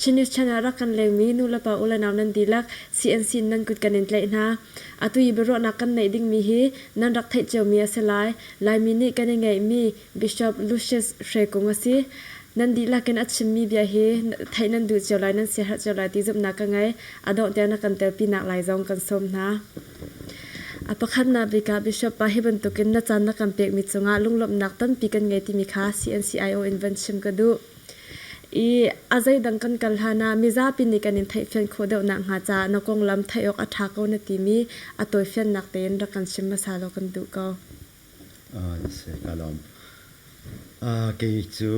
Chin News Channel rak kan lengmi nu le pa u le nau nan dihlak CNC in nan kut kan in tlaih hna. Atu i biaruahnak kan neih dingmi hi nan rak theih ciomi a si lai. Laimi nih kan i ngeihmi Bishop Lucius Hre Kung a si. Nan dihlak in a chimmi bia hi theih nan duh cio lai, nan siaherh cio lai ti zumhnak ka ngei. A dongh tiah na kan telpinak lai zong kan sawm hna. A pakhatnak bik ah Bishop pa hi bantukin na caan na kan pekmi cungah lunglawmhnak tampi kan ngei timi kha CNCIO in van chim ka duh. I a zeidang kan kal hlanah mizapi nih kan in theihfian khawh deuh nakhnga caah na konglam theih awk a ṭha ko na timi a tawifiannak tein rak kan chim hmasa law kan duh ko. Kei cu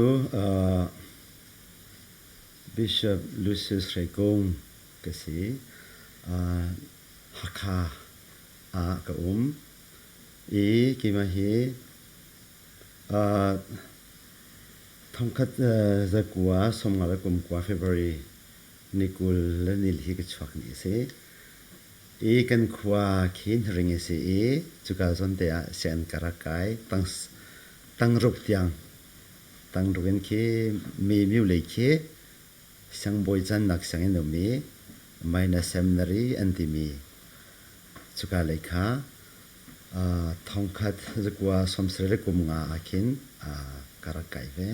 Bishop Lucius Hre Kung ka si. Hakha ah ka um i keimah hi thongkhat zakua sawmnga le kumkua February Ni kul le ni li hi ka chuak ni a si. I kan khua khi Hnaring a si i cuka zawn te ah sian ka rak kai. Tang, tang ruk tiang, tang ruk in khi mi miu lei khi siangbawi cannak sianginn um i minor seminary an timi cuka lei kha uh, thongkhat zakua sawmsarih le kum nga ah khin uh, ka rak kai ve.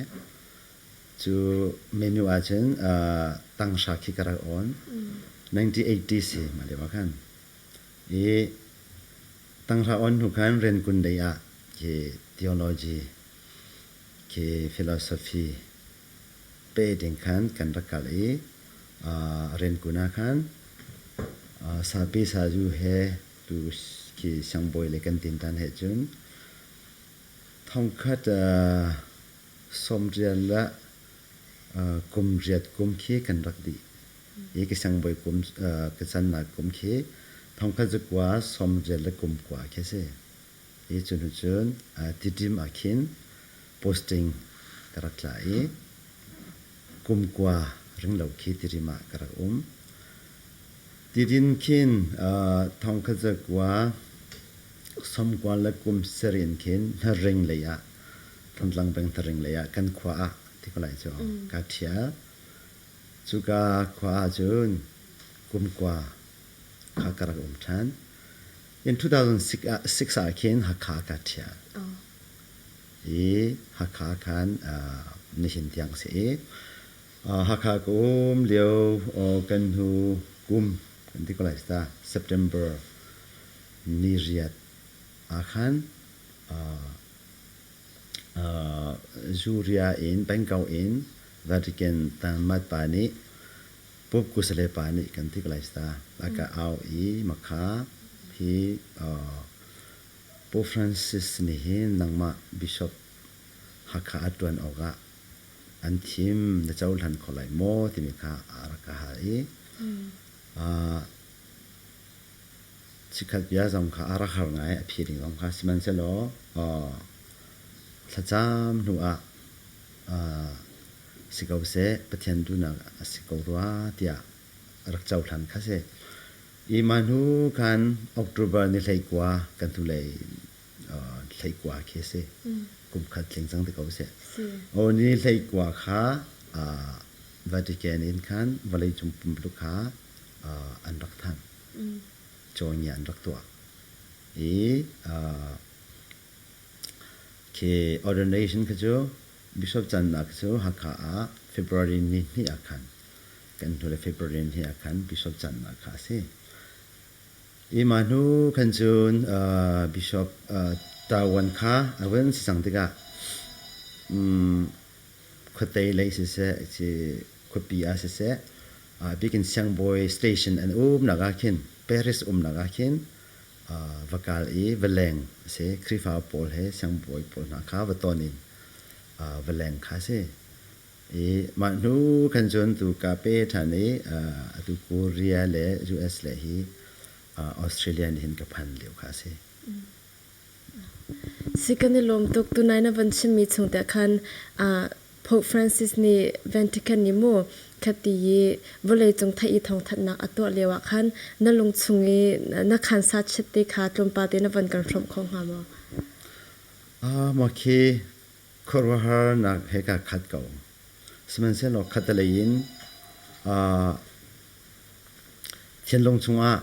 Cu menu ah cun tanghra khi ka rak awn. 1980 si mah lio ah khan. I tanghra awn hnu khan Renkun lei ah khi theology, khi philosophy pe ding khan kan rak kal i Renkun ah khan sape sazu he tu khi siangbawi le kan tin tan he cun thongkhat Sawm rian le kum riat kum khi kan rak dih i ka siangbawi kum ka cannak kum khi thongkhat cu kua sawm riat le kum kua khi a si. I cu hnu cun tiṭim ah khin posting ka rak tla i kum kua ringlo khi tiṭim ah ka rak um. Tidin khin thongkhat cu kua sawm kua le kum sarih in khin hnarring lei ah Tlangtlang pengtharing lei ah kan khua ah ti ko lai cu kaa ṭhial. Cuka khua ahcun kumkua kha ka rak um ṭhan. In 2006 ah khin Hakha kaa ṭhial. I Hakha khan nihin tiang a si i Hakha kum lio kan hnu kum kan ti ko lai ta September ni riat ah khan Zuria in Bangkok in Vatican tanmat pa nih Pope kusale pa nih kan tik lai sta aka au i makha hi Pope Francis nih hin nangmah Bishop Hakha a ṭuan awkah an thim na cohlan kho lai maw timi kha a rak ka hal i Chikkhat bia zong kha a rak har ngai, a phi ding zong kha. Sihmanhsehlaw thlacam hnuah si ko seh, Pathian duhnak a si ko rua tiah a rak cohlan kha si. Hi mah hnu khan October ni hleikua kan hnulei hleikua khi a si. Kum khat tling cang te ko seh. O ni hleikua kha Vatican in khan vawleicung pumpuluk kha an rak thanh cawngia an rak tuah i khi ordination khi cu bishop cannak cu hakha ah february ni hnih ah khan kan hnule february ni ah khan bishop cannak kha a si hi mah hnu khan cun bishop tawan kha a van si cang tikah khuatei lei siseh ci khuapi ah siseh bikin siangbawi station an umnak ah khin Paris umnak ah khin va kal i va leng a si Khrihfa pawl he siangbawi pawl hna kha va ton in va leng kha a si i mah hnu khan cun tu ka pe ṭhan i atu Korea le US le hi Australia nih hin ka phan lio kha a si. Si kan i lawm tuk. Tunai na van chimmi chung tiah khan Pope Francis nih Vatican i maw khati i vawleicung theih i thawngthanhnak a tuah lio ah khan na lungchung i na khansa chiat te kha tlawmpal te na van kan hrawmh kho hnga maw? Mah khi Khuaruahharnak he kaa khat ko. Sihmanhsehlaw khattelei in thinlung chungah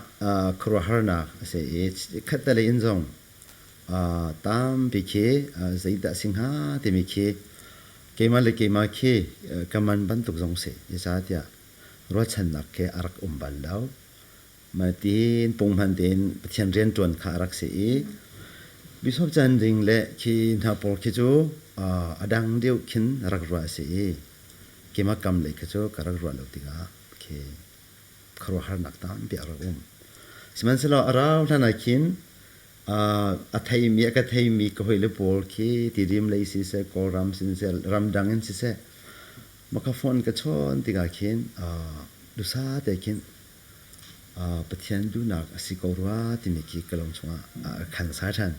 khuaruahharnak a si i khattelei in zong tampi khi zeidah a si hnga timi khi keimah le keimah khi ka man bantuk zong a si. Zeicahtiah ruahchannak khi a rak um bal lo. Hmaitin punghman tein Pathian rianṭuan kha a rak si i Bishop Chan Ding le khi hna pawl khi cu a dang deuh khin rak ruah a si i kemakam lei kha cu ka rak ruah lo tikah khi khuaruahharnak tampi a rak um. Sihmanhsehlaw a rau hlan ah khin a theimi a ka theimi ka hawile pawl khi tidim lei siseh Kawlram siseh ramdang in siseh maka phone ka chawn tikah khin dusa te khin Pathian duhnak a si ko rua timi khi ka lung chungah a khan sai ṭhan.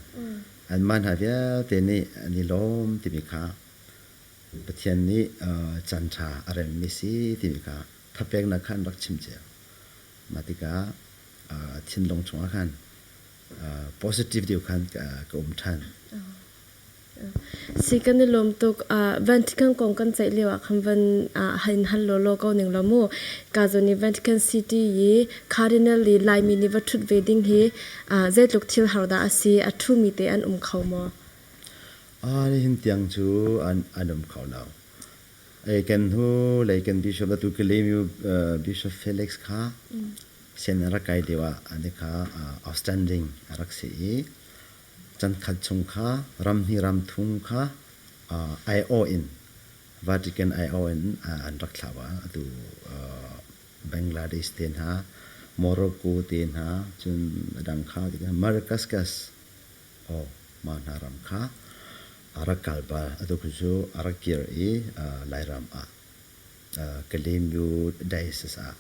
Anmah hna vialte nih an i lawm timi kha Pathian nih caanṭha a remmi si timi kha thapeknak kha an rak chimcia. Mah tikah thinlung chungah khan positive deu khan ka um than si kan i lawm tuk van thikan kong kan ceih lio ah khan van hain hal lo lo ko ning lo mu ka zon i Vatican City yi Cardinal li Laimi ni va thut ve ding hi zeitluk thil har da asi a thu mi te an um kho mo a ni hin tiang chu an an um kho now ai kan hu lai kan bishop la tu ke le mi bishop Felix kha Sin a rak kai deuh ah an i kha outstanding a rak si i chankhat chung kha ram hnih ram thum kha aiawh in Vatican aiawh in an rak thlah va atu Bangladesh te hna Morocco te hna cun a dang kha Madagascar aw mah hna ram kha a rak kal bal atu cu a rak kir i Lairam ah ka lemyu diocese ah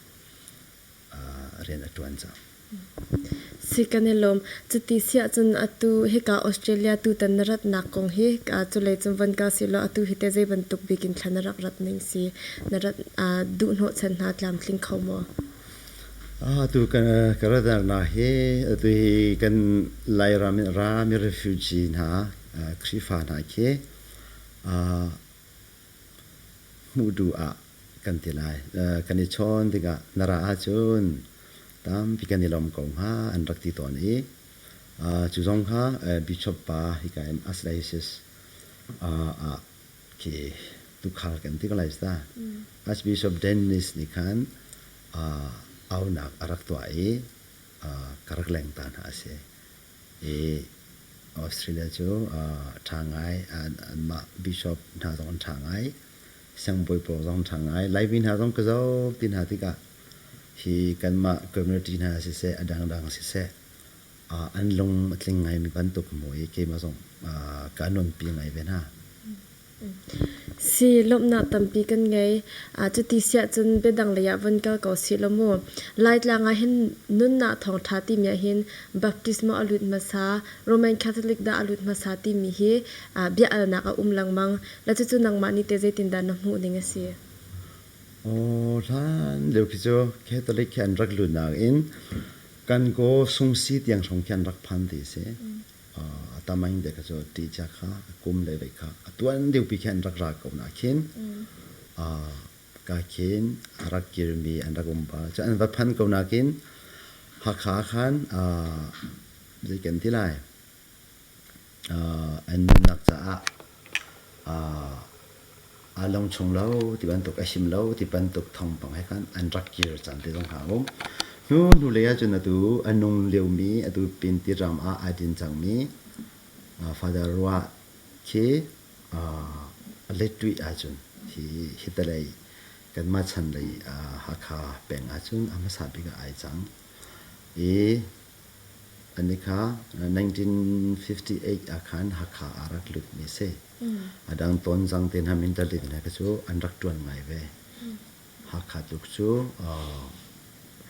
rian a ṭuan cang. Si kan i lawm. Cuti si ahcun atu hika Australia tutan na ratnak kong hi culei cun von ka si law atu hi te zei bantuk bik in thla na rak rat ning si na rat duh hnawhchan hna tlamtling kho maw? Atu ka ratnak hi atu hi kan Lairam in rami refugee hna Khrihfa hna khi hmuh duh ah kan ti lai. kan i chawn tikah na ra ahcun tampi kan i lawm ko hnga an rak ti tawn i cu zong kha bishop pa hi ka im aslasis ah khi tukhal kan ti ko lai ta. Archbishop Dennis nih khan aunak a rak tuah i ka rak leng ta hna a si. i Australia cu ṭha ngai anmah bishop hna zong an ṭha ngai siangbawi pawl zong an ṭha ngai Laimi hna zong ka zoh ti hna tikah hi kanmah community hna siseh a dangdang siseh an lung a tling ngaimi bantuk maw i keimah zong kaa nuampi ngai ve hna. Si lawmhnak tampi kan ngei. Cuti siahcun biadang lei ah von kal ko sih law mu. Laitlang ah hin nunnak thawngṭha timi ahhin baptisma a lut hmasa, Roman Catholic dah a lut hmasa timi hi bia alnak a um lengmang. Le cucu nangmah nih teh zeitindah na hmuh ding a si? Aw hlan lio khi cu Catholic khi an rak lut nain kan kaw sungsi tiang hrawng khi an rak phan ti a si. a tam aing dek cu ti cha kha kum le ve kha a tuan deuh pi khin rak ra ko na khin a ka khin a rak kirmi an rak um ba cu an va phan ko na kin hakha khan a zei kan ti lai an nunnak caah aa long chung lo ti bantuk, a him lo ti bantuk thawngpang he khan an rak kir caan te zong hna a um. Hnu hnulei ahcun atu a nung liomi atu pin tiram ah aa din cangmi Father Rua khi Lettuih ahcun hi hitalei kanmah chanlei Hakha peng ahcun a hmasa bik ah ai cang i An i kha 1958 ah khan Hakha ah rak lutmi a si. A dang Tonzang te nam in Dalit le cu an rak ṭuan ngai ve. Hakha tluk cu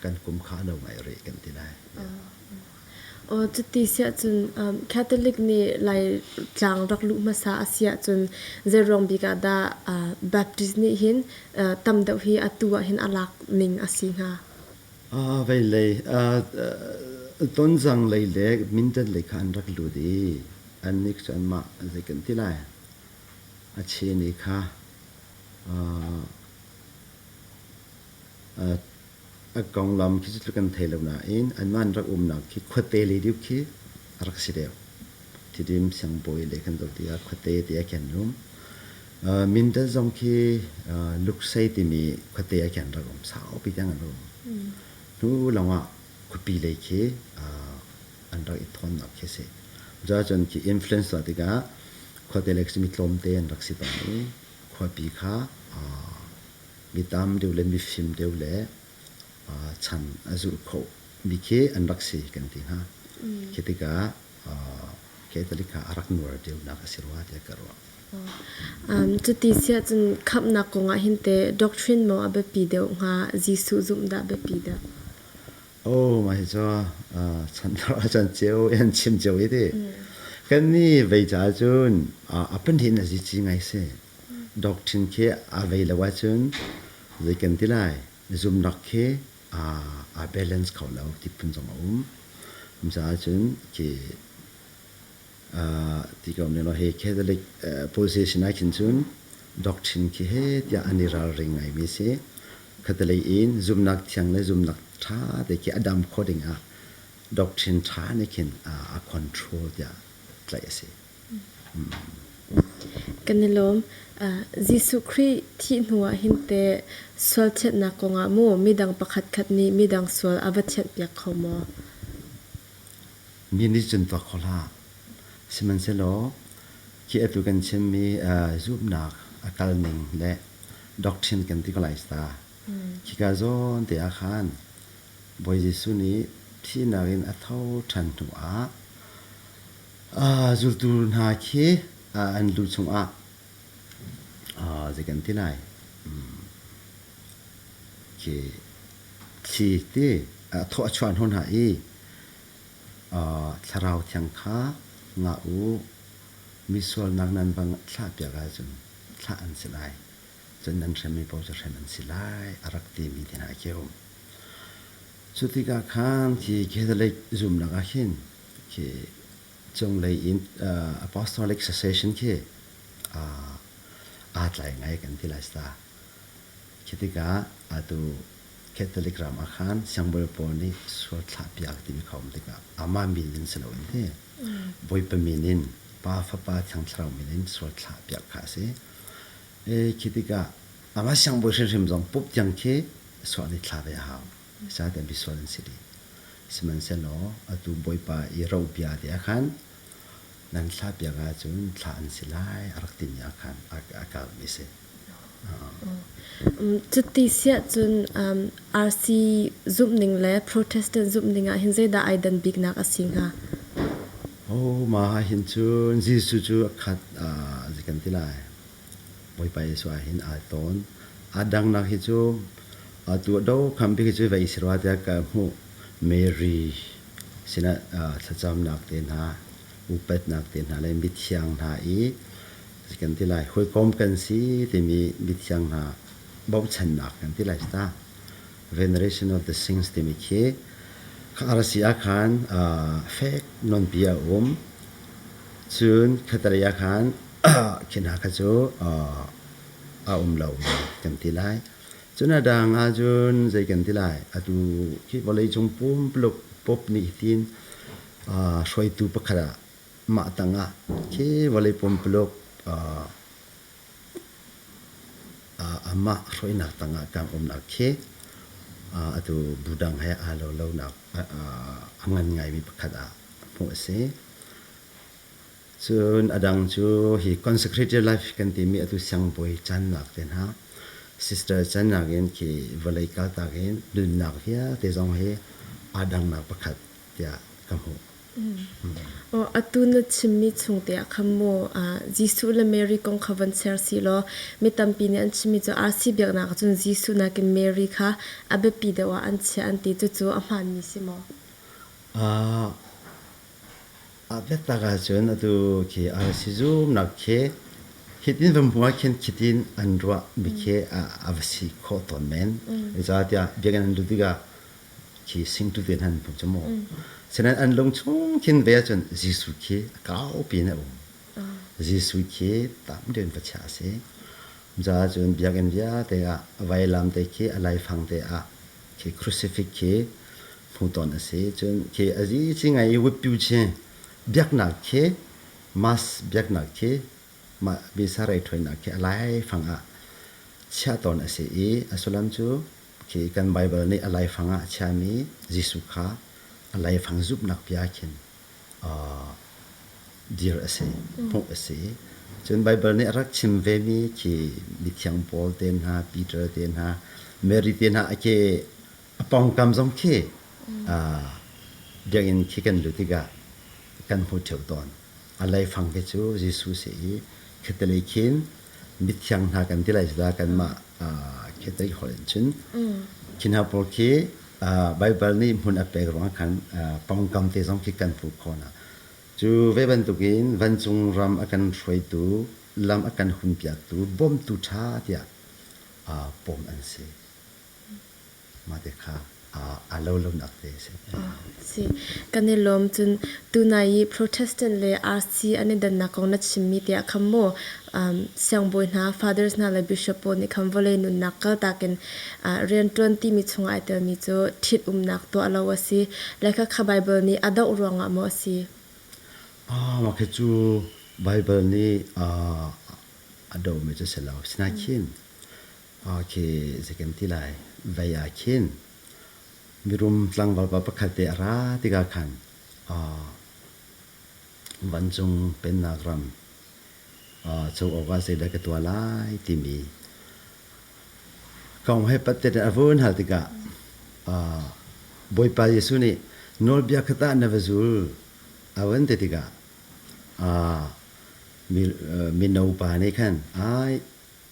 kan kum kha a no ngai rih kan ti lai. Cuti si ahcun Catholic nih Laitlang rak luh hmasa a si ahcun zeiruang bik ah dah Baptist nih hin tam deuh hi atu ah hin a lak ning a si hnga? Veilei tonzang lei le mindat lei kha an rak lut i annih cu anmah zei kan ti lai? A chini kha a konglam khi cu tluk an thei lo nain anmah an rak umnak khi khuate lei deuh khi a rak si deuh. Tidim siangbawi le kan dawt i a khuate te a ken rum. Uh, Mindat zong khi uh, Luksei timi khuate a ken rak um sau pi tiang an rum. Mm. Hnu lawngah khupi lei khi uh, an rak i thon nak khi si. Za cun khi influence la tikah khuate lek simi tlawmte an rak si ton i khuapi kha uh, mi tam deu le mi fim deu le uh, chan a zulh kho mi khi an rak si kan ti ha. Mm. Khi tikah Catholic ah a rak nuar deuhnak a si rua tiah ka ruah. Cuti si ahcun khamhnak kong ah hin teh doctrine maw a biapi deuh hnga, Jesuh zumh dah a biapi dah? Oh, mah hi cu chan chan cio i an chim cio i ti. Kannih vei caah cun a pahnih in a zici ngai si. Doctrine khi a vei lo ahcun zei kan ti lai? na zumhnak khi aa balance kho lo ti phun zong a um. Micaah cun ki ti ko ne lo he Catholic position ah khin cun doctrine khi he tiah an i ralring ngai mi si Catholic in zumnak thiang le zumnak tha te khi adam kho ding ah doctrine tha ne khin a control tiah tlaih a si Kan i lawm. Jesuh Khrih thih hnuah hin teh sual thianhnak kongah maw midang pakhatkhat nih midang sual a va thianhpiak kho maw? Mi nih cun va kho hlah. Sihmanhsehlaw khi atu kan chimmi zumhnak a kalning le doctrine kan ti ko lai ta. Khi ka zawnte ah khan Bawi Jesuh nih thihnak in a tho ṭhan hnuah zultu hna khi an lu chungah zei kan ti lai khi thli ti thaw a chuan hon hna i thlarau thiang kha ngah u mi sualnak nan bang thlah piak ahcun thlah an si lai cun nan hremmi paoh cu hrem an si lai a rak timi ti hna khi a um cu tikah khan khi catholic zumnak ah hin khi cunglei in apostolic succession khi aa tlai ngai kan ti lai sta khi tikah atu catholic ram ah khan siangbawi pawl nih sual thlahpiak timi khawm tikah ama min in si loin hi bawipa min in pa fapa thiang thlarau min in sual thlahpiak kha a si khi tikah anga siangbawi hrimhrim zong pup tiang khi sual nih thla ve a hau Ca kan bisual an si dih. Sihmanhsehlaw atu Bawipa i robia te ah khan nan thla piang ahcun thla an si lai a rak timi ah khan a karmi si. Cuti siah cun RC zumhning le Protestant zumhning ah hin zeidah ai dan biknak a si hnga? Oh, mah hin cun Jesuh cu a khat, zi kan ti lai. Bawipa Jesuh ah hin aa tawn. Aa dangnak hi cu atu a dokham bik hi cu vei si rua tiah ka hmuh. Mary sinah thlacamnak te hna, upatnak te hna le mithiang hna i kan ti lai, hawikom kan si timi mithiang hna bochannak kan ti lai sta. Veneration of the Saints timi khi RC ah khan fek nonpi a um. Cun khatale ah khan khi hna kha cu a um lomi kan ti lai. Cun a dang ahcun zei kan ti lai, atu khi vawleicung pumpuluk pop nih hin hruaitu pakhat ah mah tangah khi vawlei pumpuluk amah hruainak tangah kan umnak khi atu budang he aa lo lonak a ngan ngaimi pakhat ah hmuh a si. Cun a dang cu hi consecrated life kan timi atu siangbawi cannak te hna sister cannak in khi vawlei kaltak in nunnak vialte zong hi aa dangnak pakhat tiah ka hmuh. Oh, atu na chimmi chungte ah khan maw Jesuh le Mary kong kha van ser si law mi tampi nih an chimmi cu arsi biaknak ah cun Jesuh nakin Mary kha a biapi deuh ah an chiah an ti. Cucu a hmaanmi si maw? Aa biatak ahcun atu khi RC zumnak khi hitin vamhua khin khitin an ruah mi khi a va si khawh tawn men. Zeicahtiah biakinn an lut tikah khi singtu tein han pung cu maw. Sinain an lung chung khin ve ahcun Jesuh khi a kaupi in a um. Jesuh khi tam tein va chiah a si. Cucaah cun biakinn vialte ah vailam te khi a laifang te ah khi crucifix khi hmuton a si cun khi a zi ci ngai i wutpyu ci biaknak khi mass biaknak khi mah bisarei ṭhawinak khi a laifang ah chiah tawn a si i a sullam cu khi kan Baibal nih a laifang ah a chiami Jesuh kha a laifang zumhnak bia khin dir a si, hmuh a si. Cun Baibal nih a rak chim vemi khi mithiang Paul te hna, Peter te hna, Mary te hna a ke a pawngkam zong khi biakinn khi kan lut tikah kan hmu ṭheo tawn. A laifang khi cu Jesuh si i, khi ti lei khin Mithiang hna kan ti lai cu kanmah Catholic holh in cun. Khi hna pawl khi Baibal nih hmun a pek ruangah khan pawngkam te zong khi kan fuh khawh hna. Cu ve bantukin vancung ram a kan hruaitu, lam a kan hunpiaktu, bawmtu ṭha tiah pawm an si. Mate kha a lo lonak te a si. Si. Kan i lawm. Cun tunai i Protestant le RC an i dannak kong na chimmi tiah khan maw siangbawi hna, fathers hna le bishop pawl nih khan vawlei nunnak kaltak in rianṭuan timi chungah ai telmi cu ṭhitumnak tuah lo a si. Lehkha kha Baibal nih a doh ruangah maw a si? Mah khi cu Baibal nih a dohmi cu a si lo. Asinain Okay, zaken ti lai. Vai ah khin mirum tlangval pa pakhat te a ra tikah khan vancung pennak ram co awga zeidah ka tua lai timi kong he pat tein a vun hal tikah Bawipa Jesuh nih nawlbia khat ah na va zul a van ti tikah mino pa nih khan ai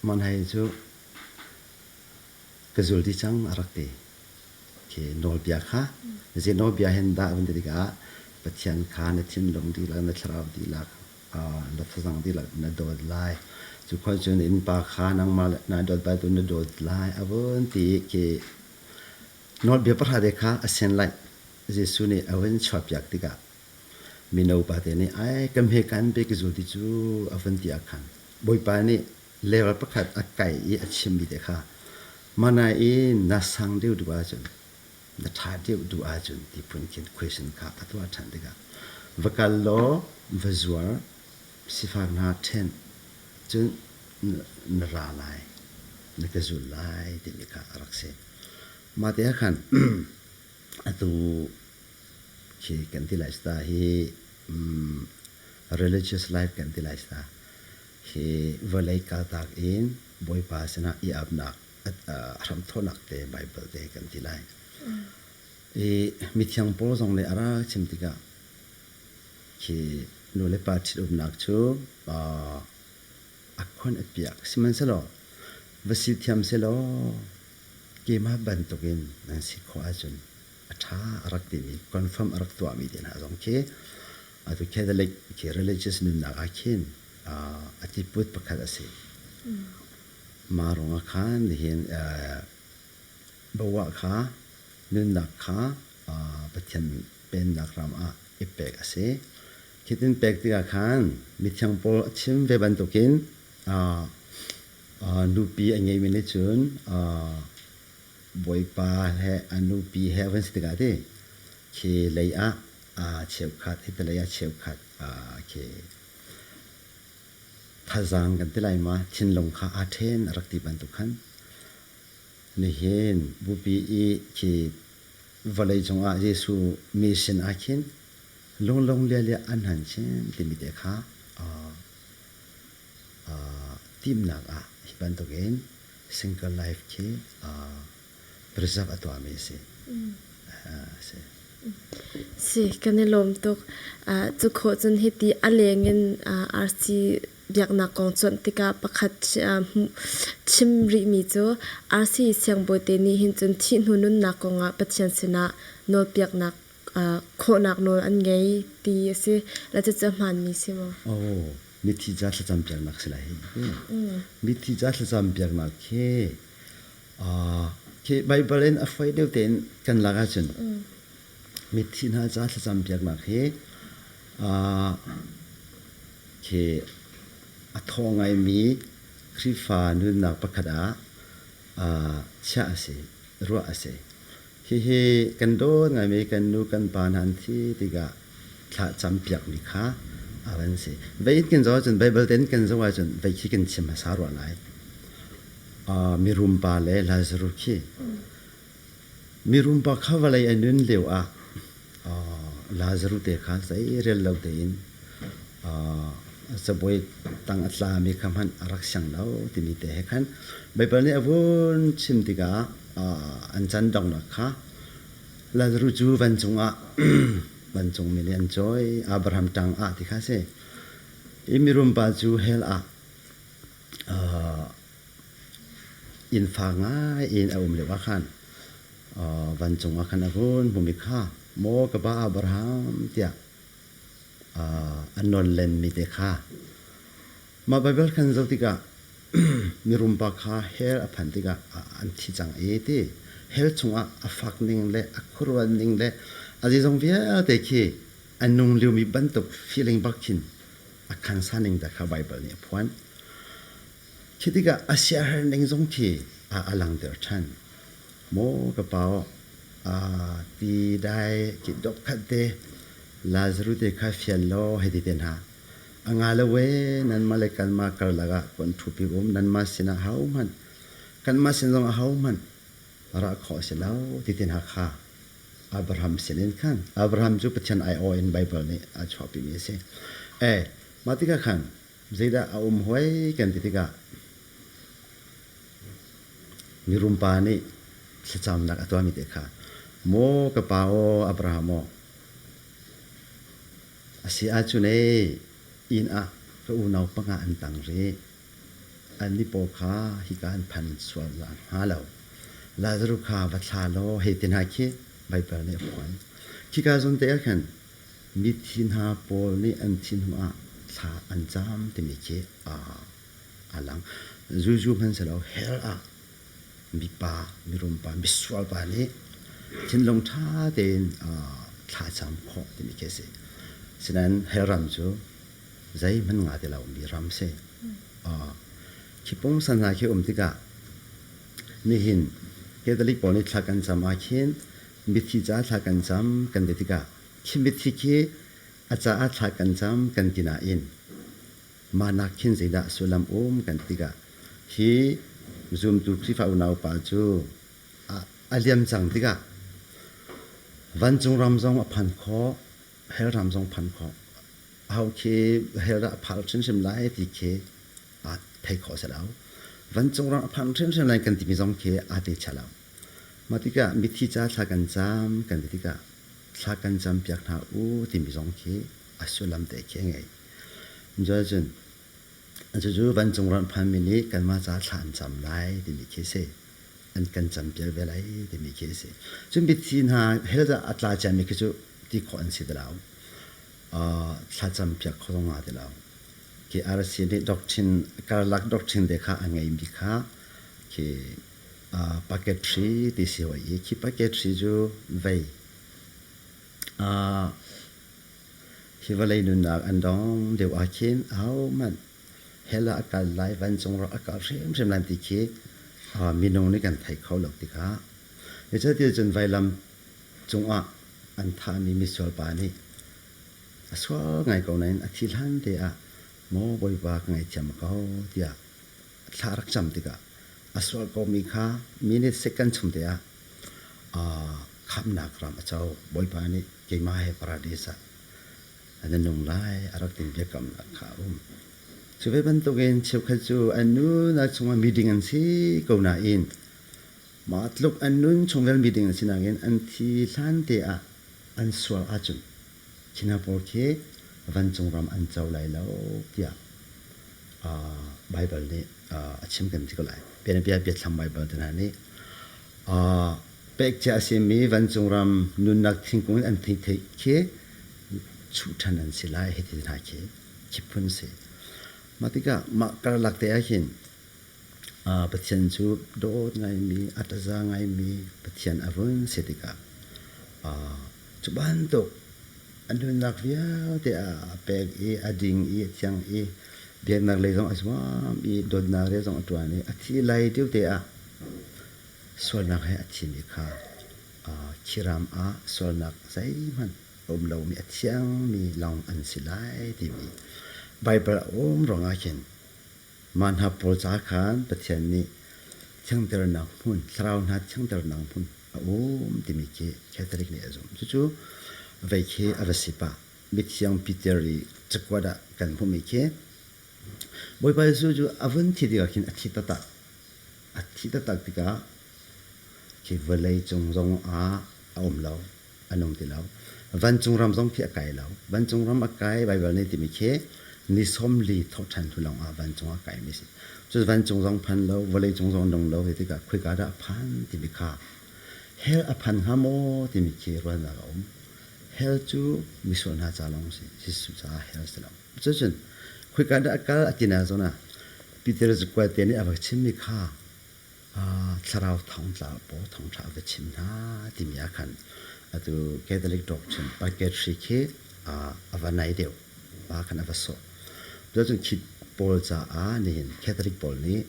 Monhei cu ka zul ti cang a rak ti. Khi nawlbia kha, zi nawlbia hen dah van ti tikah Pathian kha na thinlung dihlak, na thlarau dihlak, na thazang dihlak na dawt lai. Cu khua cun innpa kha nangmah na dawt bal tu na dawt lai a vun ti khi nawlbia pahrate kha a sen lai Jesuh nih a hun chuahpiak tikah Mino pate nih ai kan hme kan pe ka zul ti cu a van ti ahkhan Bawipa nih level pakhat a kai i a chimmi te kha mana i na sang deuh duh ahcun na ṭha deuh duh ahcun ti phun khin question kha a tuah ṭhan tikah va kal law va zuar sifak hna ṭhen cun na ra lai na ka zul lai timi kha a rak si. Mah te ahkhan atu khi kan ti lai sta hi um, religious life kan ti lai sta hi vawlei kaltak in bawipa sinah i apnak hram thonak te bible te kan ti lai i mithiang paul zong le ara chim tikah khi nu le pa ṭhit umnak cu a khuan a piak sihmanhsehlaw va si thiam selaw keimah bantukin nan si khawh ahcun a ṭha a rak timi confirm a rak tuahmi te hna zong khi atu Catholic khi religious nunnak ah khin a tiput pakhat a si mah ruangah khan nihin bawa kha nunnak kha Pathian pennak ram ah i pek a si hitin pek tikah khan mithiang paul a chim ve bantukin nupi a ngeimi nih cun Bawipa he an nupi he van si tikah ti khi lei ah aa cheukhat hi te lei ah cheukhat aa khi thazaang kan ti lai ma thinlung kha aa ṭhen a rak ti bantuk khan nihin bupi i khi vawlei cungah Jesuh mission ah khin lunglong lialia an han chin timi te kha timhnak ah hi bantukin single life khi rizak a tuahmi a si. Si kan i lawm tuk. Cu khawh cun hiti a leng in arsi biaknak kong cuanh tikah pakhat chim rihmi cu arsi siangbawi te nih hin cun thih hnu nunnak kongah Pathian sinah nawlpiaknak khawhnak nawl an ngei ti a si. Lacet cu a hmaanmi si maw? Oh, mithi ca thlacam piaknak si lai hi. Mithi ca thlacam piaknak khi khi Baibal in a hruai deuh tein kan lak ahcun mithi hna ca thlacam piaknak hi khi a thaw ngaimi Khrihfa nunnak pakhat ah chiah a si, ruah a si. Hihi kan dawt ngaimi kan nu kan pa hna an thi tikah thla campiakmi kha a van si. Veitin zong ahcun Baibal ten kan zoh ahcun vei khi kan chim hmasa rua lai. Uh, mirum pa le Lazarus khi mirum pa kha vawlei a nun lio ah Lazarus te kha zeirial lo tein cabuai tang a tlami kha hmanh a rak siang lo timi te he khan Baibal nih a vun chim tikah an can donghnak kha Lazarus cu vancung ah vancungmi nih an cawi Abraham ṭang ah ti kha a si. Hi mirum pa cu hell ah Innfa ngai in a um lio ah khan vancung ah khan a hun hmumi kha maw ka pa Abraham tiah an nawn lenmi te kha mah Baibal khan zoh tikah mirumpa kha hell a phan tikah an thi cang i ti hell chungah a fak ning le a khuarual ning le a zeizong vialte khi a nung liomi bantuk feeling bak khin a khangsa ning te kha Baibal nih a phuan. Khi tikah a siaherh ning zong khi a langhter ṭhan. Maw ka pa, aa ti dai ki dokkhat te Lazaru te kha fial law hei ti te hna. A nga lo e nanmah le kanmah karlak ah kan ṭhupi um nanmah sinah ahohmanh kanmah sin zong ahohmanh ra khawh a si lo ti ti hna kha Abraham sinin khan Abraham cu Pathian aiawh in Baibal nih a chuahpimi a si. E, mah tikah khan zeidah a um hoi kan ti tikah mirum pa nih thlacamnak a tuahmi te kha maw ka pa aw Abraham aw a si ah cun e inn ah ka unau panga an tang rih an ni paw kha hika an phan sual hnga lo Lazaru kha va thla law hei ti hna khi Baibal nih a phuan khika zun te ah khan Mithi hna pawl nih an thin hnuah thla an cam timi khi a lang. Zulzu hmanhsehlaw hell ah mipa, mirumpa, misualpa nih thinlung ṭha tein thla cam khawh timi khi a si. Asinain hell ram cu zeihmanh nga ti lomi ram a si. Khi pungsan hna khi um tikah nihin Catholic pawl nih thla kan cam ahkhin Biathi caah thla kan cam kan ti tikah khibiathi khi a caah thla kan cam kan ti nain mah nak khin zeidah sullam um kan ti tikah hi zumtu Khrihfa unaupa cu a liam cang tikah vancung ram zong a phan khawh hell ram zong phan khawh ho khi hell dah a phal hrimhrim lai ti khi aa thei khawh set lo vancung ram a phan hrimhrim lai kan timi zong khi aa te set lo Mah tikah mithi ca thla kan cam kan ti tikah thla kan campiak hna u timi zong khi a sullam te khi a ngei. Cuahcun cucu vancung ram phanmi nih kanmah ca thla an cam lai timi khi a si. An kan campiak ve lai timi khi a si. Cun mithi hna hell ah a tla ciami khi cu ti khawh an si ti lo. Thla campiak kho zong nga ti lo. Khi RCA nih doctrine karlak doctrine te kha a ngeimi kha khi Packetry ti si hoi i khi packetry cu vei, hi vawlei nunnak an dong deuh ahkhin ahohmanh hell ah a kal lai vancung rak a kal hrimhrim lai ti khi minung nih kan thei kho lo tikah. Cucaah cun vailam cungah an thahmi misual pa nih a sual ngai ko nain a thi hlan te ah maw Bawipa ka ngaihthiam ko tiah thla rak cam tikah a sual komi kha minute second chung te ah khamnak ram a co. Bawipa nih keimah he paradis ah na nung lai a rak tin biakamnak kha a um. Cu ve bantukin cheukhat cu an nu na chungah meeting an si ko nain mah tluk an nun chungvel meeting a si nakin an thi hlan te ah an sual ahcun Singapore khi vancung ram an co lai lo tiah uh, Bible nih uh, a chim kan ti ko lai. Bianabia biathlam Bible te hna nih uh, pek cia a simi vancung ram nunnak thingkung in an thei thei khi chuh ṭhan an si lai hiti hna khi khi phun si. Mah tikah mah karlak te ah hin Pathian cu dawt ngaimi, a ttaza ngaimi Pathian a vun si tikah cu bantuk a nunnak vialte a pek i a ding i a thiang i biaknak lei zong a zuam i dawtnak rial zong a ttuan i a thi lai tete ah sualnak he a thimi kha khiram ah sualnak zeihmanh a um lomi, a thiangmi lawng an si lai timi Baibal a um ruangah khin. Mah hna pawl ca khan Pathian nih thiangternak hmun, thlarau hna thiangternak hmun a um timi khi Catholic nih a zumh. Cucu vei khi a va si pah. Mithiang Peter i cakuat ah kan hmuhmi khi Bawipa Jesuh cu a vun thi tikah khin a thi taktak. A thi taktak tikah khi vawlei cung zong ah a um lo. an um ti lo vancung ram zong khi a kai lo vancung ram a kai baibal nih timi khi ni sawm li thawhṭhan hnu lawng ah vancung a kai mi si cu vancung zong phan lo vawlei cung zong dong lo hi tikah khoika dah a phan timi kha hell a phan hnga maw timi khi ruahnak a um hell cu misual hna ca lawng si Jesuh caah hell si lo cucun khoika dah a kal a tina zona Peter zakual te nih a va chimmi kha thlarau thawngtlang paw thawngtha ka chim hna timi ah khan atu Catholic doctrine purgatory khi a va nai deuh ma khan a va sawh cun khi pawl caah nihin Catholic pawl nih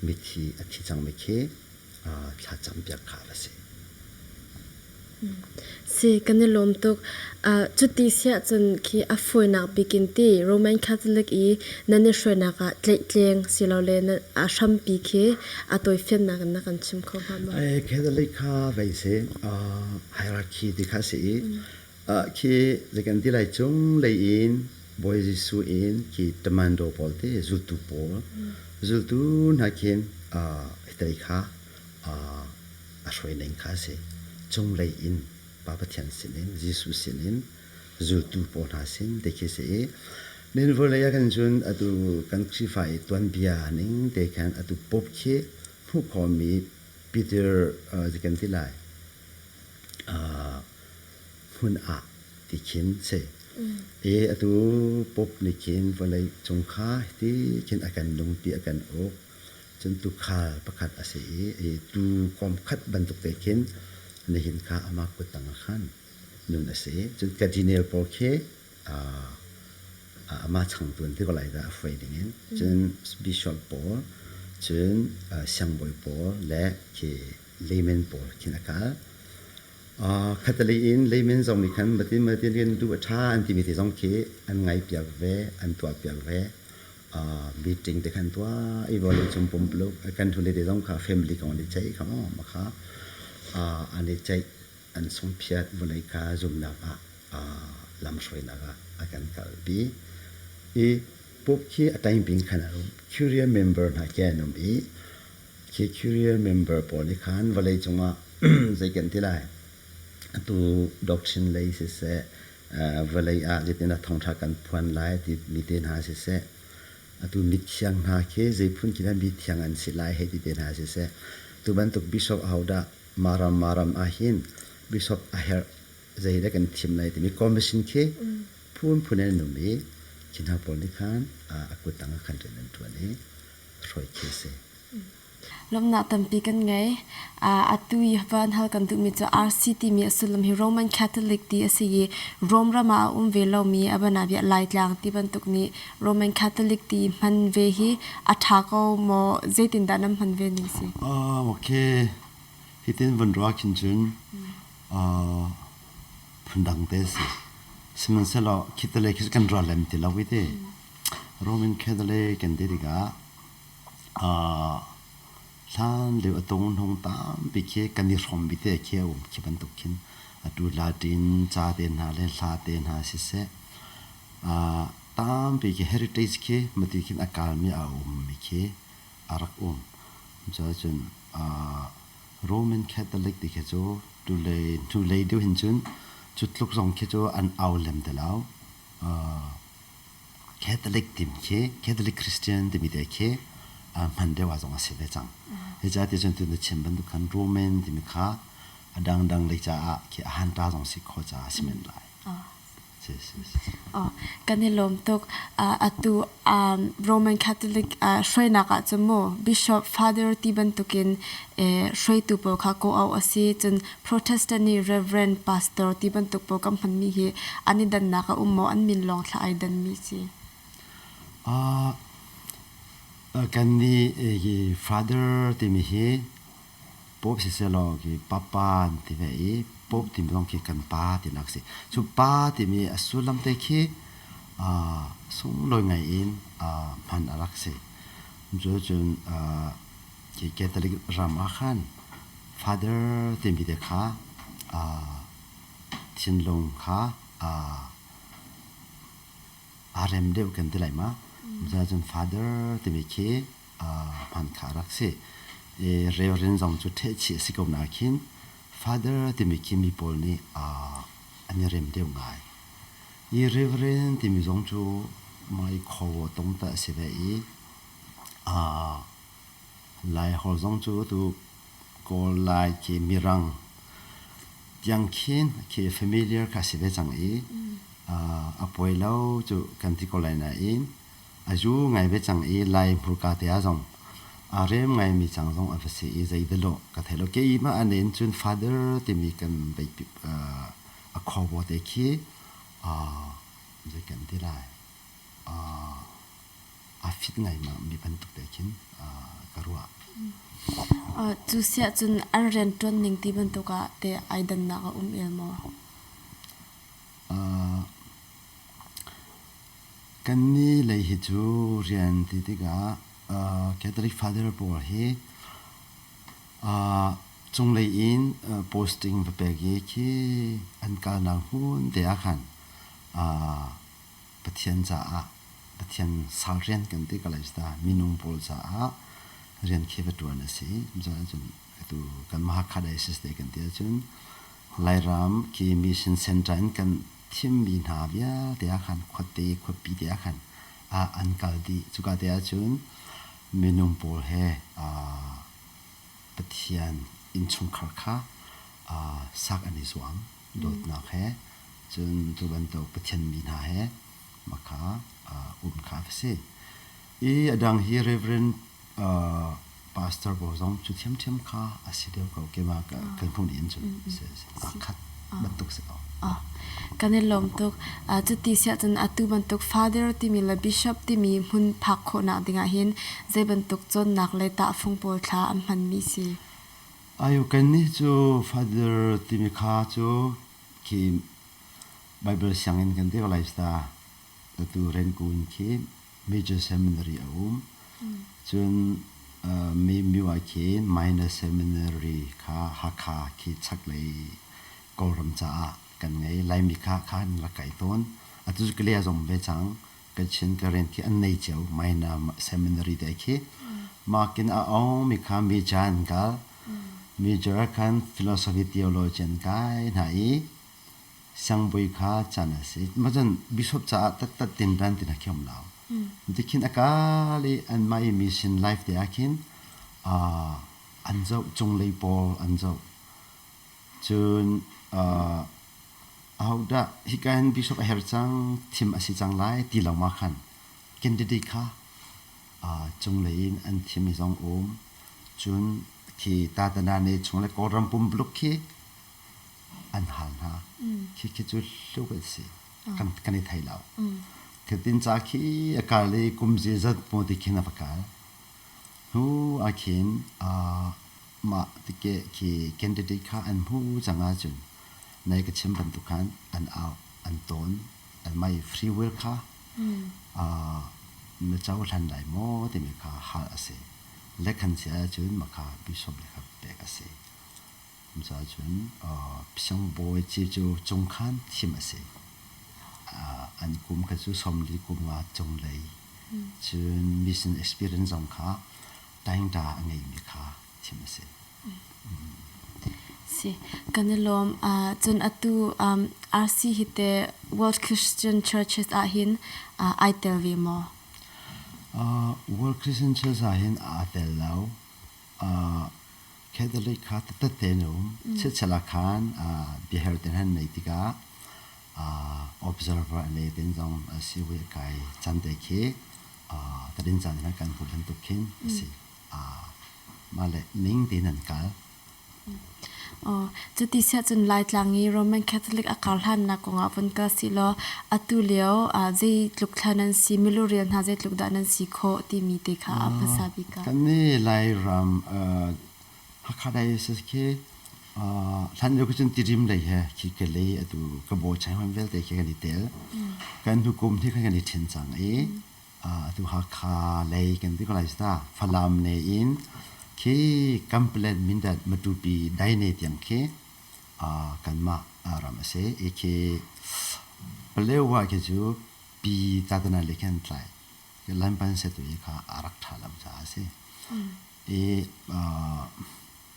mithi a thi cangmi khi thlacam piak kha a va si Si kan i lawm tuk. Uh, cuti siah cun khi a fawinak bikin ti Roman Catholic i nan i hruainak ah tleihtleng silole na, a hrampi khi a tawifiannak in na kan chim kho hnga maw? Ai, Catholic kha vei si, uh, hierarchy ti kha si i, uh, khi zikan ti lai cung lei in Bawi Jesuh in khi tamando pawl ti zultu pawl, zultu hna khin uh, hitei kha a hruaining kha a si. Cunglei in Pa Pathian sinin Jesuh sinin zultu pawl hna sin te khi a si i nihin vawlei ah khan cun atu kan Khrihfa i tuanbia ning te khan atu pope khi hmuh khawhmi Peter zi kan ti lai hmun ah ti khin si. I atu pope nih khin vawlei cung kha hi ti khin a kan nungpi a kan uk. Cun tuukhal pakhat a si i tuu kawm khat bantuk te khin nihin kha amah kut tangah khan nun a si. Cun Kadiniel pawl khi amah changtu an ti ko lai dah a hruai dingin. Cun bishop pawl, cun siangbawi pawl le khi layman pawl khin a kal. Catholic in layman zong nih khan matin matin khin duh a ṭha an timi te zong khi an ngaih piak ve, an tuah piak ve. meeting te khan tua i volu chung pum lu kan thuli te zong kha family kong ni chai kha ma kha ani chai an sung phiat vulei ka zumnak ah lam hruainak ah a kan kal bi i pup khi a time bing khan arum curial member na ke anum i khi curial member pawl ni khan vawlei cungah zeikan tilai Atu doctrine lei siseh, vawlei ah zeitin a thawngṭha kan phuan lai ti mi te hna siseh, atu mithiang hna khi zeiphun khi dah mithiang an si lai hei ti te hna siseh, tu bantuk bishop ahodah maram maram ahhin bishop a herh zeidah kan thim lai timi commission khi phunphun in an um i khi hna pawl nih khan a kuttang ah khan ṭun an ṭuan i a hruai khi a si. Lawmhnak tampi kan ngei. Uh, atu i van hal kan duhmi cu RC timi a sullam hi Roman Catholic ti a si i Rome ram ah a um ve lomi a bianabia Laitlang ti bantuk nih Roman Catholic ti hman ve hi a ṭha ko maw? Zeitindah nan hman ve ning si? Um, ok. Hitin vun ruah khin cun uh, phundang te a si. Sihmanhsehlaw khi te le khi kan ral lem ti lo i te Roman Catholic kan ti tikah hlan lio a tung hnung tampi khi kan i hrawm bite khi a um khi bantuk khin atu Latin ca te hna le hla te hna siseh tampi khi heritage khi mati khin a kalmi a ummi khi a rak um. Cuahcun Roman Catholic ti khi cu hnulei deuh hin cun cu tluk zong khi cu an au lem te lo. Catholic tim khi Catholic Christian timi te khi hman deuh ah zong a si ve cang. Zeicahtiah cun tutan chim bantuk khan Roman timi kha a dangdang lei caah khi a hanta zong si khawh caah a si men lai. Kan i lawm tuk. Atu Roman Catholic hruainak ah cun mu Bishop Father ti bantukin hruaitu pawl kha kawh awk a si. Cun Protestant nih Rev. Pastor ti bantuk pawl kan hmanmi hi an i dannak a um maw? An min lawng thlah ai danmi si. Uh, kan nih hi father timi hi pop siselaw ki papa ti ve i pop timi zong khi kan pa ti nak si cu pa timi a sullam te khi sung loi ngai in hman a rak si cu cun Hi Catholic ram ah khan father timi te kha aa thinlung kha aa aa rem deuh kan ti lai ma. Cun father timi khi hman kha a rak si. Reverend zong cu ṭhehchih a si ko nain father timi khi mi pawl nih an i rem deuh ngai. Hi reverend timi zong cu Mai Khaw Tawng ta a si ve i Laihor zong cu a tuk. Kawl Lai khi mirang tiang khin khi familiar kha si ve cang i a poi lo cu kan ti ko lai nain a zu ngai ve cang i Lai hmurka te ah zong a rem ngaimi cang zong a va si i zei dah lawh ka thei lo. Kei mah a nen cun father timi kan bei a khuabo te khi zei kan ti lai. aa fit ngaima mi bantuk te khin ka ruah. Cu siah cun an rian ṭuan ning ti bantuk ah teh ai dannak a um el maw? Kannih lei hi cu rian ti tikah Catholic father pawl hi cunglei in posting va pek i khi an kalnak hmun te ah khan Pathian caah Pathian sal rian kan ti ka lai sta minung pawl caah rian khi va tuan a si zeicah cun atu kan mahakha diocese te kan ti ahcun lairam ke mission center in kan thimmi hna vialte ah khan khuate khuapi te ah khan ah an kal dih cuka te ahcun minung pawl he aa Pathian innchungkhar kha aa sak an i zuam dawtnak he cun cu bantuk Pathian mi hna he makha um kha va si i a dang hi Reverend uh, Pastor bo zong cu thiamthiam kha a si deuh ko ke ma kan hung in cu a khat batuk si ko kan in lawm tuk cu ti sia cun atu bantuk father timi le bishop timi hmun phak khawhnak dingah hin zei bantuk cawnnak le tah fung pawl thla an hman mi si Ayukan ni cu Father timi kha cu khi Bible sianginn kan dek lai sta atu renku in khi major seminary a um cun uh, mi mi wa khi minor seminary kha Hakha khi chak lei Kawlram caah kan ngei Laimi kha khan la kai tawn atu cu kale zong ve cang kan chin ka rian khi an nei cio Maina seminary te khi makin a ong mi kha mi cha an kal major khan philosophy theology an kai hna i sangbui kha chan a si mazan bishop caah tattat tin ran tina khiam lao tikhin akal i an mai mission life te ah khin an zo chung lei pawl an zo Cun uh, ahodah hika hin bishop a herh cang, thim a si cang lai ti lengmang khan kan dede kha uh, cunglei in an thimi zong um. Cun khi Tatanane chung le Kawlram pumpuluk khi an hal hna. Khi khi cu hluk a si. Kan kan i thei lo. Thitin ca khi a kal i kum zi zat mu ti khin a va kal. Hnu ah khin uh, Mah tikeh khi candidate kha an hmuh cang ahcun nai ka chim bantuk khan an au, an tawn, an mai free will kha na cohlan lai maw timi kha hal a si. Lekhan si ahcun makha bishop le kha pek a si. Misal cun Pisang bawi ci cu cung khan thim a si. An kum kha cu sawmli kum nga cung lei. Cun mission experience zong kha taingta a ngeimi kha chim a si. Si kan i lawm. Uh, cun atu um, RC hi te World Christian Churches ah hin uh, ai tel ve maw? Uh, World Christian Church ah hin aa tel lo. Uh, Catholic kha tatte nu chichela khan biahar ten han nei tika observer ne ten zong si we kai chante khi uh, tadin caan na kan hmuh bantuk khin asi uh, male ning te nan kal Oh, cuti sia cun Laitlang i Roman Catholic a kar hlan na kong ah von kal si law atu lio uh, zei tluk thla nan si milurial hna zei tluk dah nan si kho timi te kha a phasa bika. Kan ni Lairam uh, Hakha Diocese khi uh, hlan lio cun tirim lei he khi ka lei atu ka bo chai hon vialte khi kan i tel kan nukum hi kan kan i ṭhen cang i atu Hakha lei kan ti ko lai sta Falam ne in khi Kamplet Mindat Matupi dai ne tiang khi kanmah ram a si i khi Palewa khi cu pi tatana le khan tlai lanpan setu hi kha a rak ṭha lam ca a si ti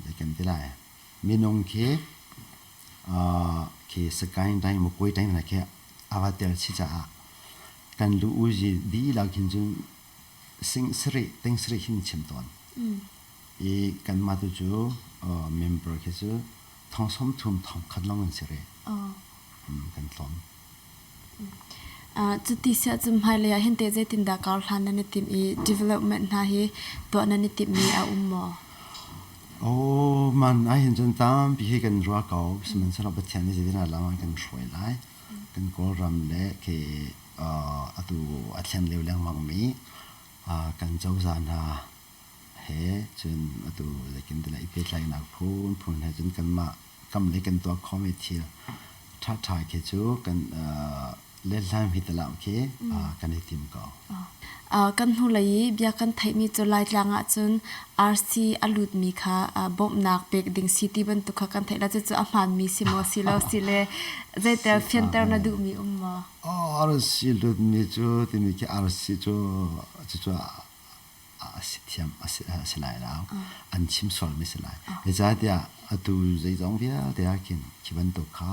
zei kan ti lai minung khi khi sakain dai mukoi dai hna khi a va tel si caah kan lu u zi dihlak hin cun sing sarih ting sarih hin chim tawn i kanmah tu cu member khi cu Thong sawm thum thong khat long an si re. Kan tlawm. Cuti siah cu hmailei ah hente zeitindah kar hlan nan i timh i development hna hi tuah nan i timhmi a um maw? Oh, man ahhin cun tampi hi kan ruah ko. Sihmanhsehlaw Pathian nih zeitin lang an kan hruai lai. Kan Kawlram le ke atu a thlen leu lengmangmi kan cozah hna he cun atu zeikin tile i pehtlainak phunphun he cun kanmah kam le kan tuah khawhmi thil ṭhaṭha khi cu kan letlaimi talau khi kan i tim ko. Kan hnulei i bia kan theihmi cu Laitlang ahcun arsi a lutmi kha bawmhnak pek ding si ti bantuk kha kan theih lo. Cucu a hmaanmi si maw si lo si le zeitel fianter na duhmi um maw? Arsi lutmi cu timi khi arsi cu cucu a si thiam a si, a si lai lo. An chim sualmi si lai. Zeicahtiah atu zeizong vialte ah khin khi bantuk kha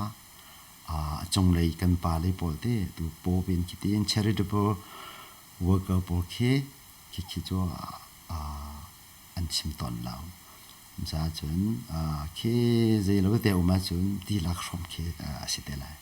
a cunglei kan pa le pawl te tu paw in khiti in charitable worker pawl khi khi cu an chim tawn lo. Caahcun khi zei lo te um ahcun dihlak hrawm khi a si te lai.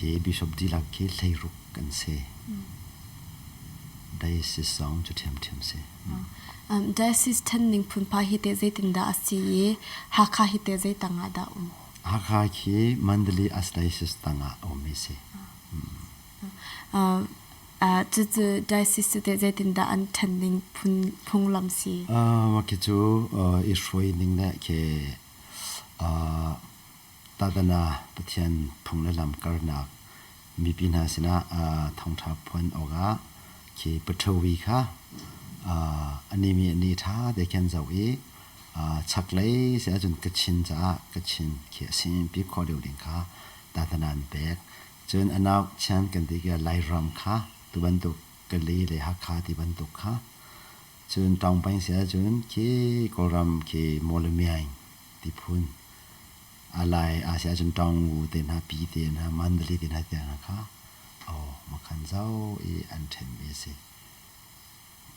Hi bishop dihlak hi hleiruk kan si. Diocese zong cu ṭhiamṭhiam si. Diocese ṭhanning phunpha hi teh zeitindah a si i Hakha hi teh zei tangah dah um? Hakha khi Mandalay Archdiocese tangah a um hi si. Cucu diocese cu teh zeitindah an ṭhanning phunglam si? Mah khi cu i hruai ning le ke Pagana Pathian phung le lamkalnak mipi hna sinah thawngṭha phuan awkah khi Puthovi kha anih mi nih ṭha tein khin an zoh i chaklei si ahcun kachin caah kachin khi a simpi khawh deuh ding kha tahna nan pek. Cun a nauk chian kan ti i Lairam kha tu bantuk Gali le Hakha ti bantuk kha cun tawng peng si ahcun khi Kawlram khi Mawlamiang ti phun. A lai a si ahcun ṭawng ngu te hna, pi te hna, mandali te hna te hna kha aw makhan zau i an ṭhenmi a si.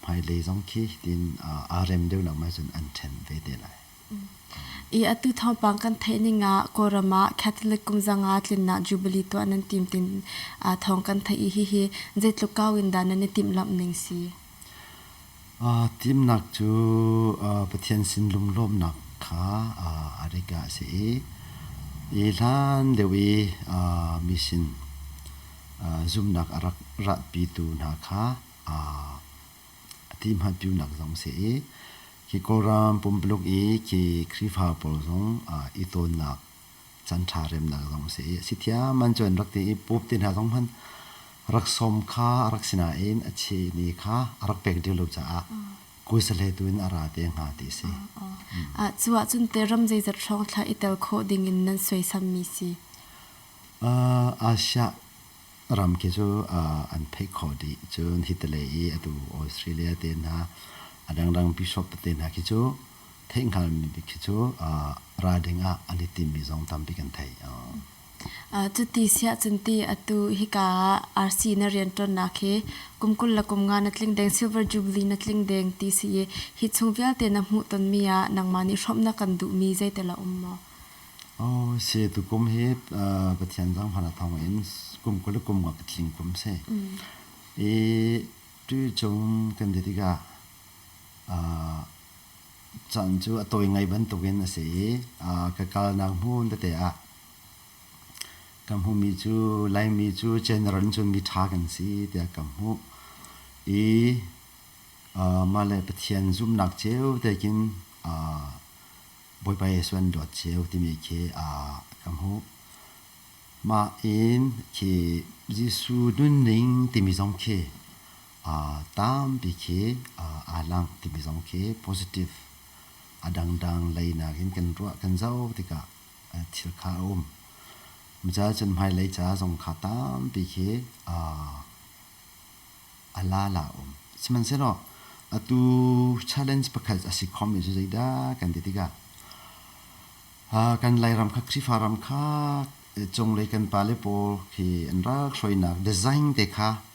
Hmailei zong khi tin aa rem deuh nak ma cun an ṭhen ve te lai. I atu thawngpang kan theih ning ah Kawlram ah Catholic kum zanga tlinnak Jubilee tuah nan tim tin thawng kan theih i hihi zeitluk kau in dah nan i timhlamh ning si? Timhnak cu Pathian sinlung lawmnak kha a rik ah a si i hi hlan deuh i mi sin zumhnak a rak rahpitu hna kha a tihmanhpiunak zong a si i khi Kawlram pumpaluk i khi Khrihfa pawl zong i tawnnak canṭha remnak zong a si i a si thiaman cu an rak ti i pope te hna zong hmanh rak sawm kha a rak sinain a chehni kha a rak pek dih lo caah kuisale tu in a ra te hnga ti a si. Cu ahcun teram zeizat hrawng thlah i tel khawh ding in nan suaisammi si. Asia ram khi cu an theih khawh dih cun Italy i atu Australia te hna a dangdang bishop te hna khi cu theih hngalmi bik khi cu ralring ah an i timmi zong tambik an thei. Cuti siahcun ti atu hika ah RC na rianṭuannak hi kum kul le kum nga na tling deng, Silver Jubilee na tling deng ti si i hi chung vialte na hmuhtonmi ah nangmah nih hrawmhnak kan duhmi zeitel a um maw? Oh si, tukum hi Pathian zong hmana thawngin kum kul le kum nga ka tling kum si. I tu chung kan dir tikah Can cu a tawi ngai bantukin a si i ka kalnak hmun tete ah ka hmumi cu Laimi cu general cun miṭha kan si tiah ka hmuh i mahle Pathian zumhnak cio te khin Bawipa Jesuh an dawt cio timi khi ka hmuh. Mah in khi Jesuh nunning timi zong khi tampi khi aa lang timi zong khi positive a dangdang lei nakin kan ruah kan zoh tikah thil kha a um. Micaah cun hmailei ca zong kha tampi khi a la la um. Sihmanhsehlaw atu challenge pakhat a si khomi cu zeidah kan ti tikah kan Lairam kha Khrihfa ram kha cunglei kan pa le pawl khi an ral hruainak design te kha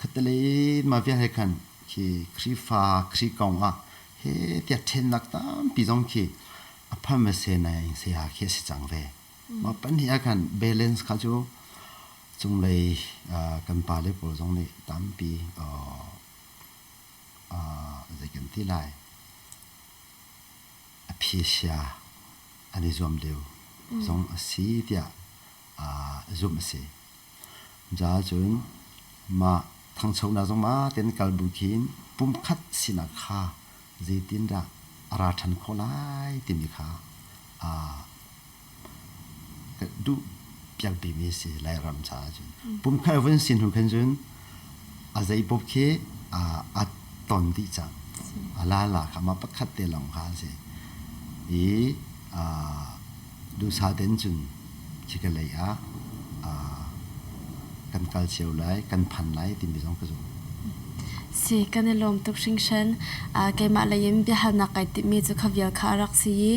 Khatalei mah vialte khan khi Khrihfa Khrih kong ah he tiah ṭhennak tampi zong khi a phan ve senai saya khi a si cang ve. Mah pahnih ah khan balance kha cu cunglei ah kan pale pawl zong nih tampi uh, uh, zei kan ti lai aphesia an i zuam deuh zong a si tiah uh, zumh a si. Caah cun mah thangchonak zong ma tein kal bu khin pumkhat sinak kha zeitindah a ra ṭhan khawh lai timi kha duh piak bimi a si Lairam caah cun. Pumkhat vun si hnu khin cun A zeipoh khi aa ton dih cang. A lala kha mah pakhat te lawng kha a si. I duhsah ten cun khika lei ah kan kal cio lai, kan phan lai timi zong ka zum. Si, kan i lawm tuk hringhran. Keimah lei in biahalnak kai timhmi cu ka vial kha a rak si i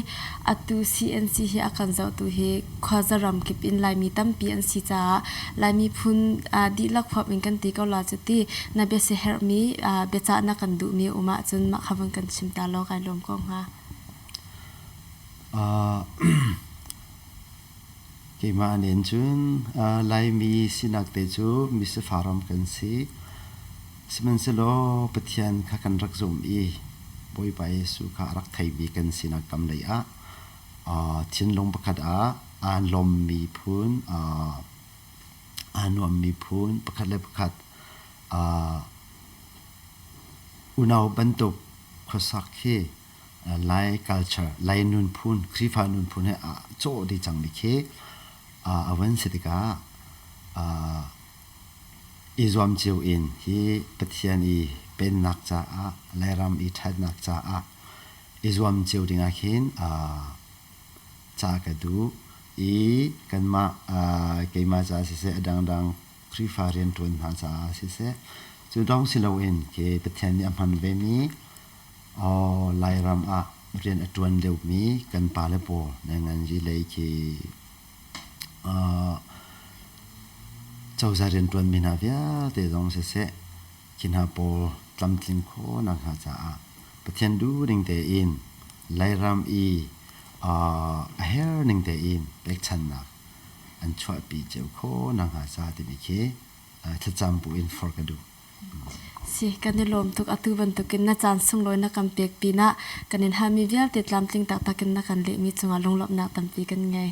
atu CNC hi a kan zohtu hi khuaza ram kip in Laimi tampi an si caah Laimi phun aa dihlak huap in kan ti ko la cu ti na biasiaherhmi aa biacah na kan duhmi um ahcun mah kha vun kan chim ta law kai lawm ko hnga. Keimah nen cun Laimi sinak te cu misifah ram kan si. Sihmanhsehlaw Pathian kha kan rak zumh i Bawipa Jesuh kha a rak theimi kan sinak kam lei ah thinlung pakhat ah aa lawmmi phun aa nuammi phun pakhat le pakhat unau bantuk khuasak hi lai culture lai nunphun khrihfa nunphun he aa cawh dih cangmi khi a van si tikah i zuam cio in hi Pathian i pennak caah Lairam i ṭhatnak caah i zuam cio dingah khin ca ka duh i kanmah keimah caah siseh a dangdang Khrihfa rianṭuan hna caah siseh cu lawng si loin ke Pathian nih a hman vemi Lairam ah rian a ṭuan deuhmi kan pale pawl nan nganzi lei khi cozah rianṭuanmi hna vialte zong siseh Hi hna pawl tlamtlin khawhnak hna caah Pathian duhning tein Lairam i a herning tein pekchanhnak an chuahpi cio khawhnak hnga ca timi khi thlacam buin forh ka duh. Si, kan i lawm tuk. Atu bantukin na caan sunglawi na kan pek pinah kan in halmi vialte tlamtling taktak in na kan lehmi cungah lunglawmhnak tampi kan ngei.